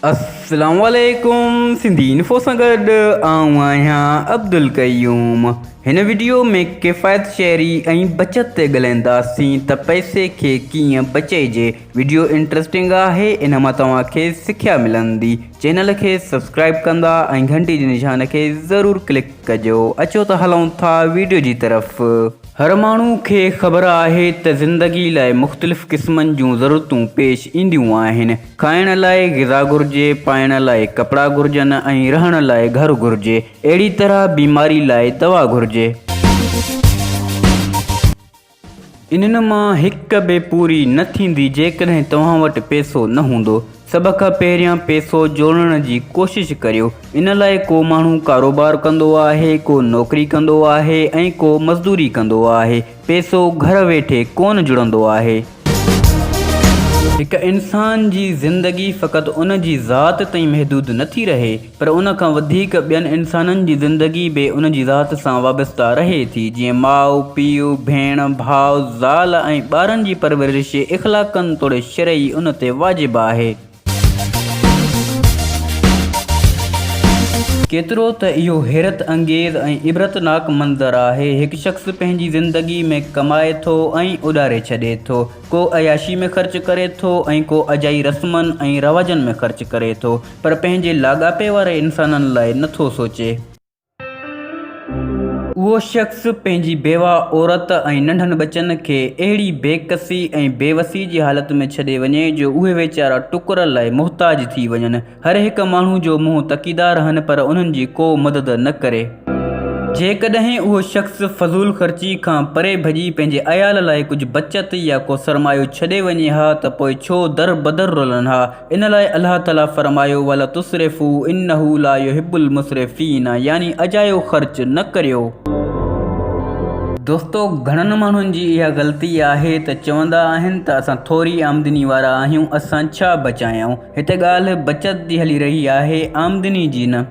السلام عليڪم سنڌي انفو سان گڏ آئون آهيان عبدالقيوم هن وڊيو ۾ ڪفايت شعري ۽ بچت تي ڳلهائينداسين ته پئسي کي ڪيئن بچئجي وڊيو انٽرسٽنگ آهي ان مان توهان کي سکيا ملندي چينل کي سبسڪرائب ڪندا ۽ گهنٽي جي نشان کي ضرور ڪلڪ ڪجو اچو ته هلون ٿا وڊيو جي طرف هر ماڻهو کي خبر آهي ته زندگي لاء مختلف قسمن جون ضرورتون پيش اينديون آهن کائڻ لاء غذا گهرجي، پائڻ لاء ڪپڙا گهرجن ۽ رهڻ لاء گهر گهرجي. اهڙي طرح بيماري لاء دوا گهرجي. انهن مان هڪ به پوري نه ٿيندي جيڪڏهن توهان وٽ پئسو نه هوندو. سڀ کان پهريان پئسو جوڙڻ جي ڪوشش ڪريو. ان لاء ڪو ماڻهو ڪاروبار ڪندو آهي، ڪو نوڪري ڪندو آهي ۽ ڪو مزدوري ڪندو آهي. پئسو گهر ويٺي ڪونه جڙندو آهي. هڪ انسان جي زندگي فقط ان جي ذات تائين محدود نه ٿي رهي پر ان کان وڌيڪ ٻين انسانن جي زندگي به ان جي ذات سان وابسته رهي ٿي جيئن ماء، پيء، ڀيڻ، ڀاء، زال ۽ ٻارن جي پرورش اخلاقن توڙي شرعي ان تي واجب آهي. ڪيترو ته اهو حيرت انگيز ۽ عبرتناڪ منظر آهي، هڪ شخص پنهنجي زندگي ۾ ڪمائي ٿو ۽ اڏاري ڇڏي ٿو. ڪو عياشي ۾ خرچ ڪري ٿو ۽ ڪو اجائي رسمن ۽ رواجن ۾ خرچ ڪري ٿو، پر پنهنجي لاڳاپي واري انسانن لاء نه ٿو سوچي. اهو شخص پنهنجي بيوه عورت ۽ ننڍن ٻچن کي اهڙي بيڪسي ۽ بيوسي جي حالت ۾ ڇڏي وڃي جو اهي ويچارا ٽڪر لاء محتاج ٿي وڃن. هر هڪ ماڻهو جو منهن تڪيدا رهن پر انهن جي ڪو مدد نه ڪري. جيڪڏهن اهو شخص فضول خرچي کان پري ڀڄي پنهنجي عيال لاء ڪجهه بچت يا ڪو سرمايو ڇڏي وڃي ها ته پوء ڇو در بدر رولن ها. ان لاء الله تعالي فرمايو ولا تسرفوا انه لا يحب المسرفين يعني اجايو خرچ نه ڪريو. دوستو گهڻن ماڻهن جي اها غلطي آهي ته چوندا آهن ته اسان ٿوري آمدني وارا آهيون اسان ڇا بچايائون هتي ڳالهه بچت جي هلي رهي آهي آمدني جي نه.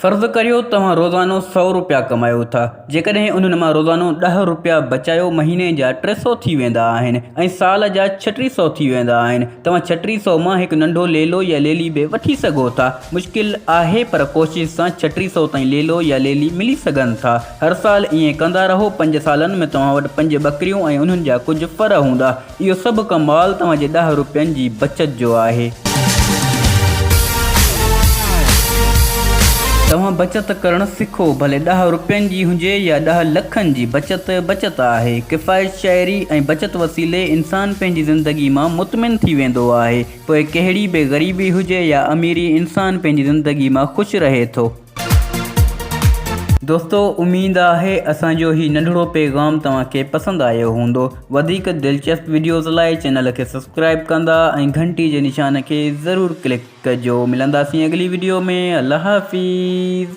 فرض ڪريو توهان روزانو سؤ روپيا ڪمايو ٿا، جيڪڏهن انهن مان روزانو ڏهه روپيا بچايو مهيني جا ٽي سؤ ٿي ويندا آهن ۽ سال جا ڇٽيهه سؤ ٿي ويندا آهن. توهان ڇٽيهه سؤ مان هڪ ننڍو ليلو يا ليلي به وٺي سگهو ٿا. مشڪل آهي پر ڪوشش سان ڇٽيهه سؤ تائين ليلو يا ليلي ملي سگهن ٿا. هر سال ائين ڪندا رهو پنج سالن ۾ توهان وٽ پنج ٻڪريون ۽ انهن جا ڪجهه ڦر هوندا. اهو سڀ ڪمال توهان جي ڏهه روپين جي بچت جو آهي. توهان بچت ڪرڻ سکو، ڀلي ڏهه روپين جي هجي يا ڏهه لکن جي، بچت بچت آهي. ڪفايت شاعري ۽ بچت وسيلي انسان پنهنجي زندگي مان مطمئن ٿي ويندو آهي. پوء ڪهڙي به غريبي هجي يا اميري انسان پنهنجي زندگي مان خوش رهي ٿو. دوستو اميد آهي اسان جو هي ننڍڙو پيغام توهان کي پسند آيو هوندو وڌيڪ دلچسپ وڊيوز لاء چينل کي سبسڪرائب ڪندا ۽ گهنٽي جي نشان کي ضرور ڪلڪ ڪجو ملنداسين اڳلي وڊيو ۾ الله حافظ